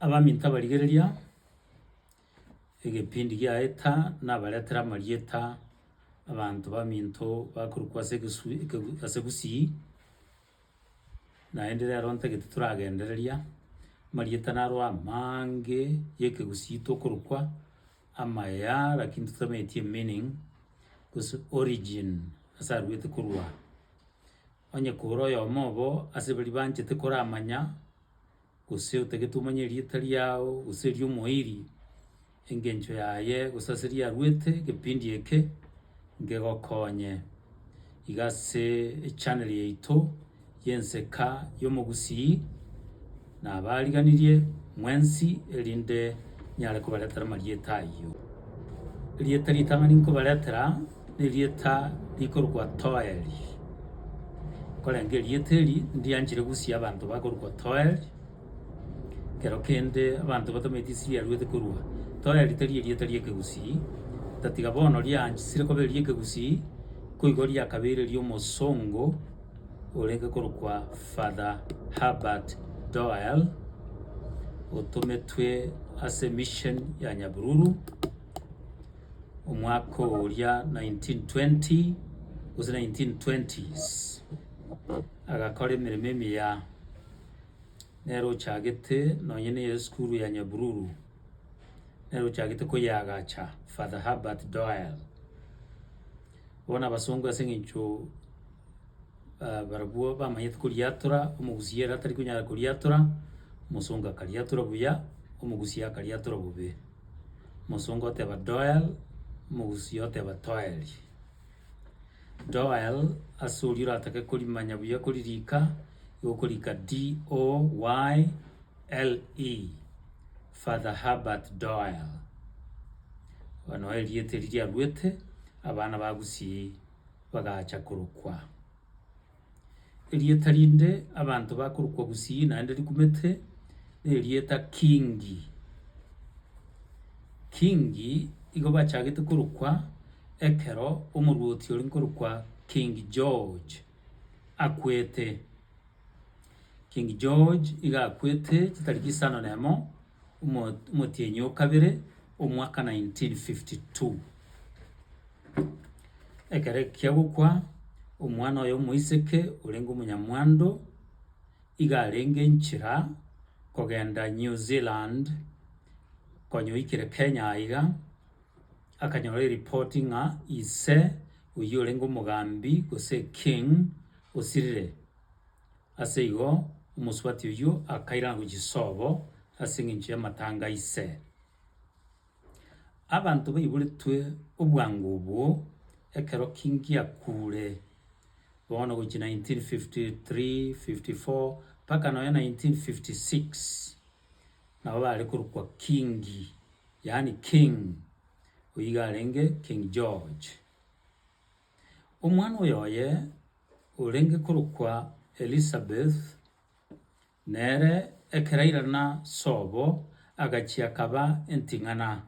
abaminto abarigereria, egepindi giaeta nabaretere amarieta abanto baminto bakorokwa ase egesu ekegu ase gusii, naende rero ntagete toragendereria, amarieta naro amaange y'ekegusii tokorokwa, amaya lakini totameti emeaning, gose origin ase aruete korwa. Onye kore oyomo obo ase baria banchete koramanya, gose otagete omanye erieta riao, gose erio omoeiri, engencho yaye gose ase erio arwete ekepindi eke, nkegokonye. Iga ase echaneli yaito y'enseka y'omogusii. nabaariganirie mwensi erinde nyare kobaretera amarieta ayio. Erieta ritang'ani nkobaretera nerieta rikorokwa Toeri. Nkorenge erieta eri ndianchire gusia abanto bakorokwa Toeri, ekero kende abanto batameti ase riaruete korwa. Toeri tari erieta ri'ekegusii, otatiga bono riaanchire koba eri'ekegusii, nkoigo riakabeire eri'omosongo. orenge korokwa Father Herbert Doyle, otometwe ase mission ya Nyabiruru omwaka oria 1920 gose 1920s, agakora emeremo emiya, nere ochagete nonye na esukuru ya Nyabiruru, nere ochagete koyeagacha Father Herbert Doyle. Bono abasongo ase eng'encho ah, barabwo bamanyete koriatora, omogusia ere atari konyara koriatora, omosongo akariatora buya, omogusia akariatora bobe. Omosongo oteba doel, omogusia oteba toel. Doel, ase oria oratake korimanya buya koririka, nigo okorika D-O-Y-L-E. Father Herbert Doyle, aba nao erieta eri riaruete, abana ba Gusii bagacha korokwa. Erieta rinde abanto bakorokwa Gusii naende rikumete, nerieta Kingi. Kingi igo bachagete korokwa ekero omorwoti oria nkorokwa King George akwete. King George iga akwete chitariki isano na emo omo omotienyi o kabere omwaka 1952. Ekero ekia gokwa, omwana oye omoiseke orenge omonyamwando iga arenge nchera kogenda New Zealand konya oikire Kenya aiga, akanyora eripoti ng'a ise, oyio orenge omogambi, gose king, osirire. Ase igo omosubati oyio akairana gochia sobo ase engencho y'amatanga a ise. Abanto baiboretwe obwango obwo ekero king akure, bono gochia 1953, 54, mpaka nonya 1956. Nabo bare korokwa Kingi, yaani King, oyio iga arenge King George. Omwana oyoye orenge korokwa Elizabeth, nere ekero airana sobo agachia akaba enting'ana,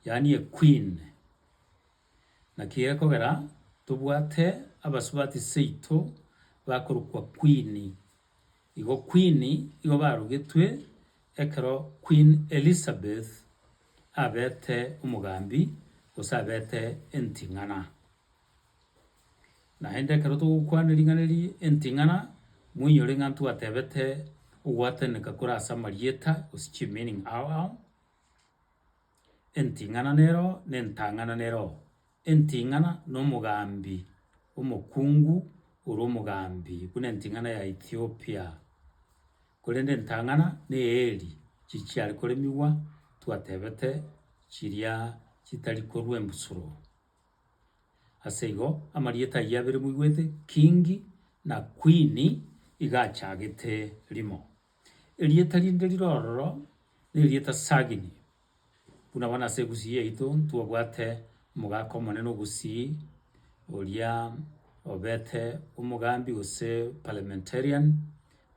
yaani a Queen. Naki gekogera tobwate abasubati seito bakorokwa Queen Igo Queen igo barugetwe ekero Queen Elizabeth abete omogambi gose abete enting'ana. Naende ekero togokwana ring'ana eri enting'ana, moinyore ng'a ntwatebete ogwataneka kore ase amarieta gose chimeaning ao ao, enting'ana nero na entang'ana nero. Enting'ana nomogambi omokungu ore omogambi buna enting'ana ya Ethiopia, korende entang'ana neeri chichiare koremigwa twatebete chiria chitari korwa embusuro. Ase igo amarieta ayio abere moigwete Kingi na Kwini iga achagete rimo. Erieta rinde rire ororo nerieta Sagini, Buna bono ase egusii yaito ntobwate omogaka omonene ogusii, oria obete omogambi gose parliamentarian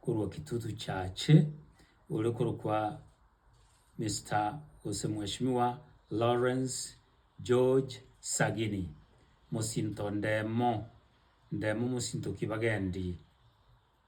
korwa Kitutu Chache, ore korokwa Mister gose mweshimiwa Lawrence George Sagini, mosinto ndemo, ndemo mosinto ki bagendi.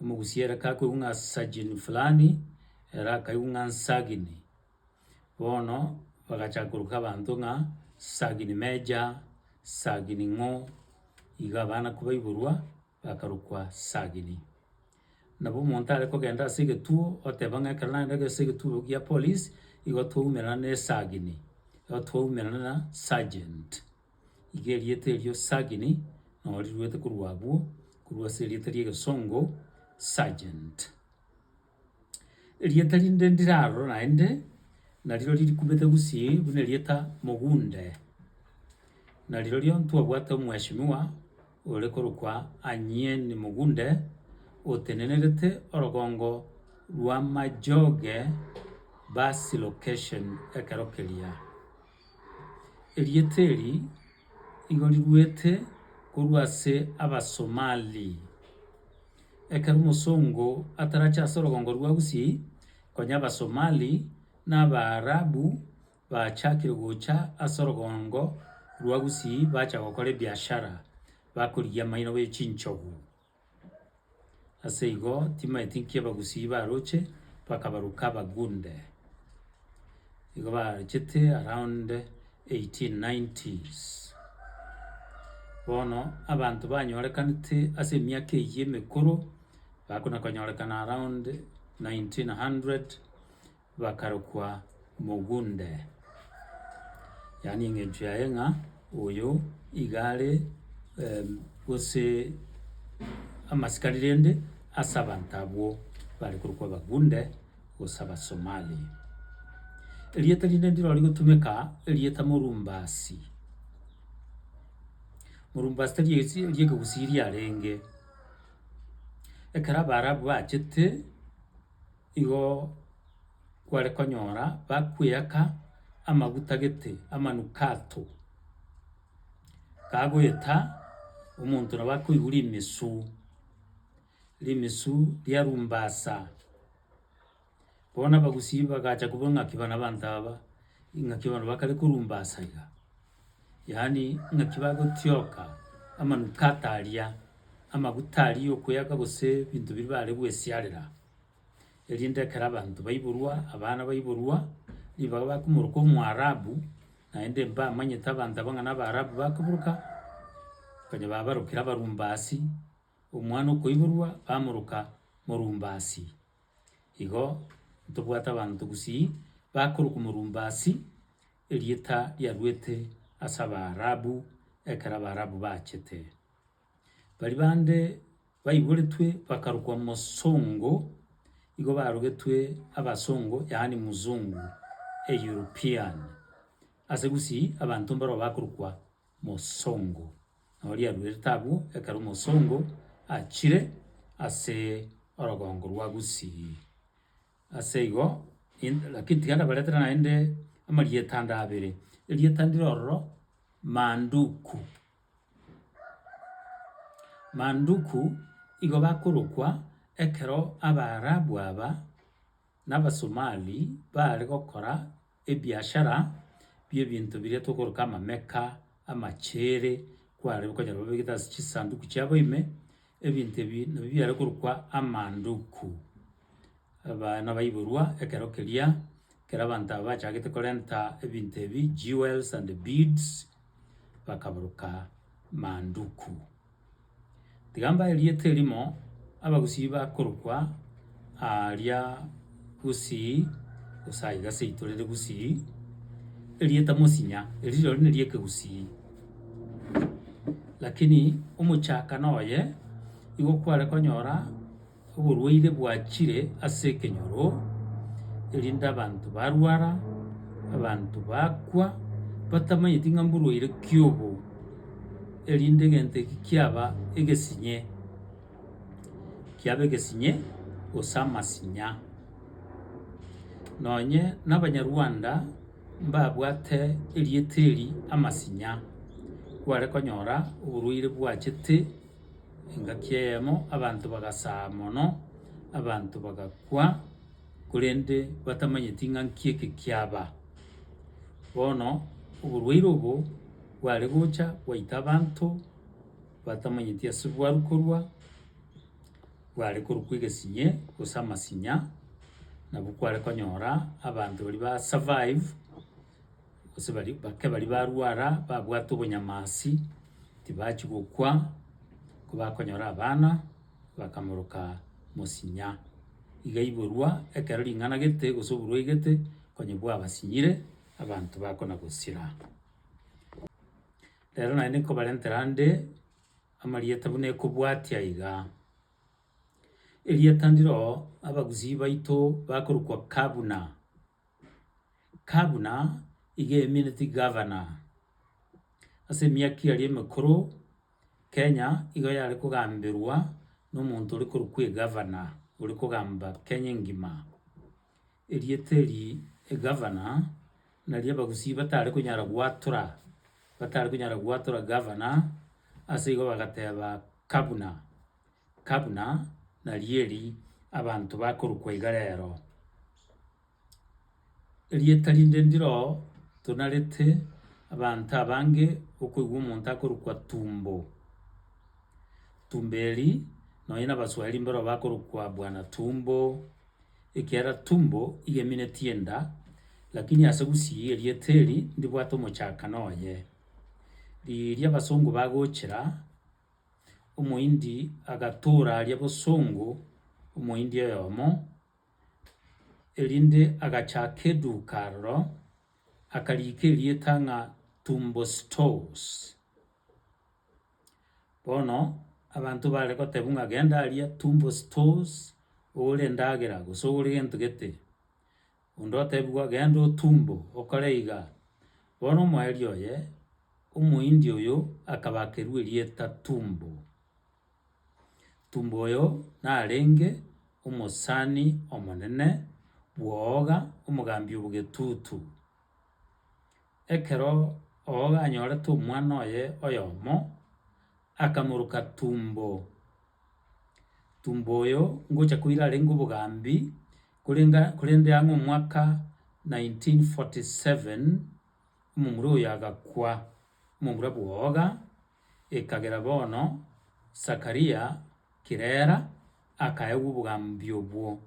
Omogusia ere kakoigwa ng'a sajini fulani, ere akaigwa ng'a nsagini. Bono bagachaka koroka abanto ng'a sagini meja, sagini ng'o, iga abana kobaiborwa bakarokwa sagini. Nabo omonto are kogenda ase egetuo oteba ng'a ekero nagenda ase egetuo gia polisi, igo twaumerana na esagini, igo twaumerana na sergeant. Iga erieta erio Sagini nao riruete korwa abwo, korwa ase erieta ri'egesongo, Sergeant. Erieta rinde ndirarora naende, narirori rikumete gusii buna erieta Mogunde, na rirorio ntwabwate omweshimiwa ore korokwa Anyien Mogunde, otenenerete orogongo rw'amajoge bus location ekero keria. Erieta eri igo riruete korwa ase Abasomali. Ekero omosongo atarache ase orogongo rwa Gusii, konya Abasomali na Abaarabu bachakire gocha ase orogongo rwa Gusii bacha gokora ebiashara bakorigia amaino be chinchogu. Ase igo timaeti nkiba gusii baroche, bakabaruka abagunde, nigo barochete around eighteen nineties. Bono abanto banyorekanete ase emiaka eyio emekoro, bakona konyorekana around nineteen hundred. Bakarokwa mogunde, yaani engencho yaye ng'a oyo iga are gose amasikari rende ase abanto abwo bare korokwa abagunde gose abasomali. Erieta rinde ndiro rigotumeka erieta morumbasi, morumbasi tari eriegegusii riarenge, ekero abaarabu bachete. igo kware konyora bakweaka amaguta gete amanukato, kagoeta omonto nabo akoigwa rimesu, rimesu riarumbasa. Bono abagusii bagacha kobua ng'aki bana abanto aba, ing'aki bono bakare korumbasa iga, yaani ng'aki bagotioka amanukato aria, amaguta aria okweaka gose ebinto biria bare goesiarera. erinde ekero abanto baiborwa, abana baiborwa, ribaga bakomoroka Omoarabu, naende mbamanyete abanto abwo ng'a na Abaarabu bakoburuka, konya babarokire Abarumbasi, omwana okoiborwa bamoroka Morumbasi. Igo ntobwate abanto gusii, bakorokwa Morumbasi, erieta riaruete as'Abaarabu ekero Abaarabu bachete. Baria bande baiboretwe bakarokwa mosongo, igo barogetwe abasongo, yaani mzungu, a European. Ase gusii abanto mbaroo bakorokwa mosongo. Nabo oria aruerete abwo ekero mosongo achire ase orogongo rwa gusii. Ase igo, in- lakini tiga ndabaretere naende amarieta ande abere. Erieta ndire ororo, manduku. Manduku igo bakorokwa ekero Abaarabu aba na Abasomali baare gokora ebiashara bi'ebinto biria tokoroka amameka, amacheere, kware okonyora babegete ase chisanduku chiabo ime. Ebinto ebi nabio biare korokwa Amanduku. Abana baiborwa ekero keria, ekero abanto aba bachagete korenta ebinto ebi, jewels and beads, bakaboroka Manduku. Tiga mbae erieta erimo, Abagusii bakorokwa aaria gusii, gose aiga ase aitorere gusii, erieta mosinya erio rirorio neri ekegusii. Lakini omochaka noye igo kware konyora oborwaire bwachire ase ekenyoro, erinde abanto barwara, abanto bakwa, batamanyeti ng'a mborwaire ki obo, erinde egento eki kiaba egesinye. kiabe egesinye gose amasinya. Nonye na abanyarwanda mbabwate erieta eri amasinya, kware konyora oborwaire bwachete engaki eyemo abanto bagasaa mono, abanto bagakwa korende batamanyeti ng'a nki eke kiaba. Bono oborwaire obo bware gocha gwaita abanto batamanyeti ase bwaru korwa, bware korokwa egesinye gose amasinya, nabo kware konyora abanto baria ba survive, gose baria bake baria barwara babwate obonyamasi, tibachia gokwa, kobakonyora abana, bakamoroka mosinya. Iga aiborwa ekero ring'ana gete gose oborwaire gete, onye bwabasinyire, abanto bakona gosira. Rero naye nikobarentera ande amarieta buna ekobwatia iga. Erieta ndiro abagusii baito bakorokwa kabuna, kabuna iga emineti gavana. Ase emiaka eria emekoro Kenya igo yare kogamberwa na omonto ore korokwa egavana, ore kogamba Kenya engima. Erieta eri egavana. Nario abagusii batare konyara gwatora, batare konyara gwatora gavana, ase igo bagateba kabuna, kabuna naria eri abanto bakorokwa iga rero. Erieta rinde ndiro tonarete abanto abange okoigwa omonto akorokwa tumbo, tumbo eri nonye na abaswahili mboro bakorokwa bwana tumbo, ekiagera tumbo igemineti enda, lakini ase gusii erieta eri ndibwate omochakano oye. Riria abasongo bagochera, Omohindi agatoora aria bosongo Omohindi oyomo, erinde agachaka eduka aroro, akariika erieta ng'a Tumbo Stores. Bono abanto bare gotebwa ng'a genda aria tumbo stores ogore endagera gose ogore gento gete, onde otebigwa genda otumbo okore iga, bono omoerio oye, omohindi oyo akabakerwa erieta tumbo. Tumbo oyo narenge omosani omonene bw'owoga, omogambi o bogetutu. Ekero ogoga anyorete omwana oye oyomo, akamoruka tumbo. Tumbo oyo ngocha koira arenge obogambi, korende korende ang'e omwaka 1947 omomura oyo agakwa, omomura bw'ogoga. Ekagera bono Zakaria kirera akaegwa obogambi obwo.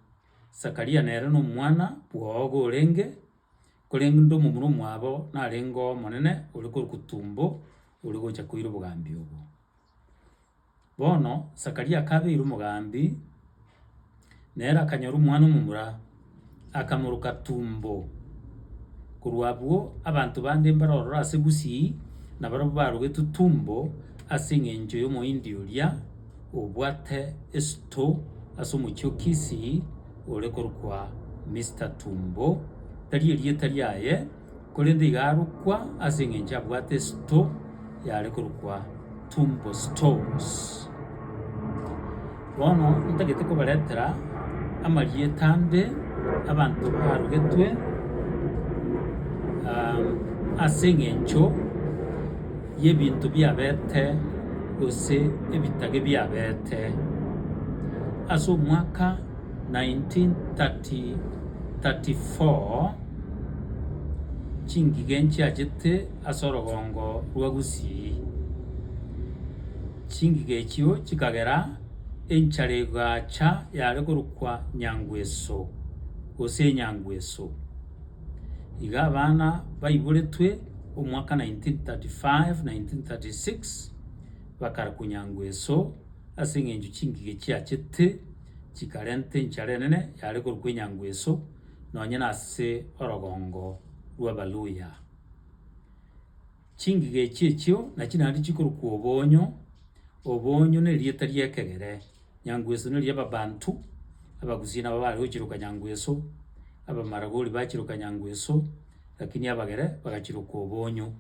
Zakaria nere nomwana bw'ogo orenge, korende omomura omwabo narenge oo omonene ore korwa Kutumbo ore gocha koira obogambi obwo. Bono Zakaria akabeirwa omogambi. Nere akanyora omwana omomura, akamoroka tumbo. Korwa abwo abanto bande mbare ororo ase gusii, na barabwo barogetwe tumbo ase engencho y'Omohindi oria obwate esuto ase omochie o Kisii, ore korokwa Mister Tumbo, tari erieta riaye. korende iga arokwa ase engencho abwate esuto y'are korokwa Tumbo Storms. Bono ntagete kobaretera amarieta ande abanto barugetwe ase engencho y'ebinto biabete gose ebitage biabete ase omwaka. 1934 chingige nchiachete ase orogongo rwa Gusii. Chingige echio chikagera enchara egaacha yare korokwa Nyangweso gose Enyangweso. Iga abana baiboretwe omwaka 1935-1936 bakarakwa Nyangweso ase eng'encho chingige chiachete. chikarenta enchara enene yare korokwa Enyangweso nonye nase orogongo rw'Abaluhya. Chingige echi echio nachi naende chikorokwa Obonyo, Obonyo na erieta ri'ekegere, Nyangweso ne ri'Ababantu, Abagusii nabo bare gochiroka Nyangweso, Abamaragoli bachiroka Nyangweso, lakini Abagere bagachirokwa Obonyo.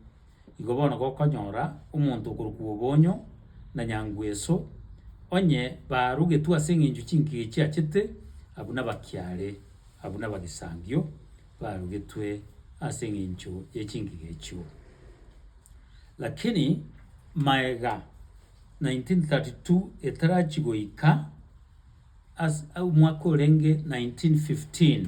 Igo bono gokonyora omonto okorokwa Obonyo na Nyangweso, onye barugetwe ase eng'encho chinkige chiachete, abwo nabakiare, abwo nabagisambio barugetwe ase eng'encho ye chinkige echio. Lakini maega 1932 etarachi goika as- omwaka orenge 1915.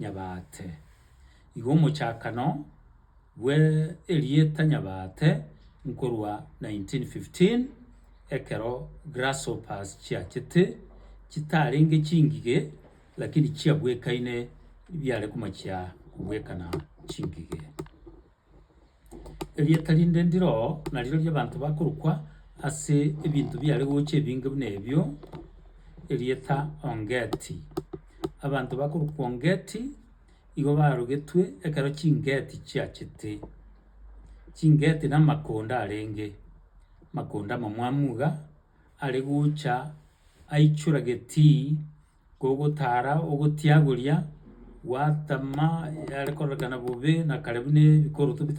Nyabaate. Igo omochakano bwe erieta Nyabaate nkorwa 1915 ekero Grasshoppers chiachete chitarenge chingige lakini chiabwekaine biare komachia kobwekana chingige. Erieta rinde ndire oo, nario riria abanto bakorokwa ase ebinto biare gocha ebinge buna ebio, erieta Ongeti. Abanto bakorokwa Ongeti, igo barogetwe ekero chingeti chiachete. Chingeti na amakonda arenge, amakonda amamwamu iga, are gocha aichora getii. Gogotara ogotiagoria, gwatama yare kororekana bobe na kare buna ebikorotobia.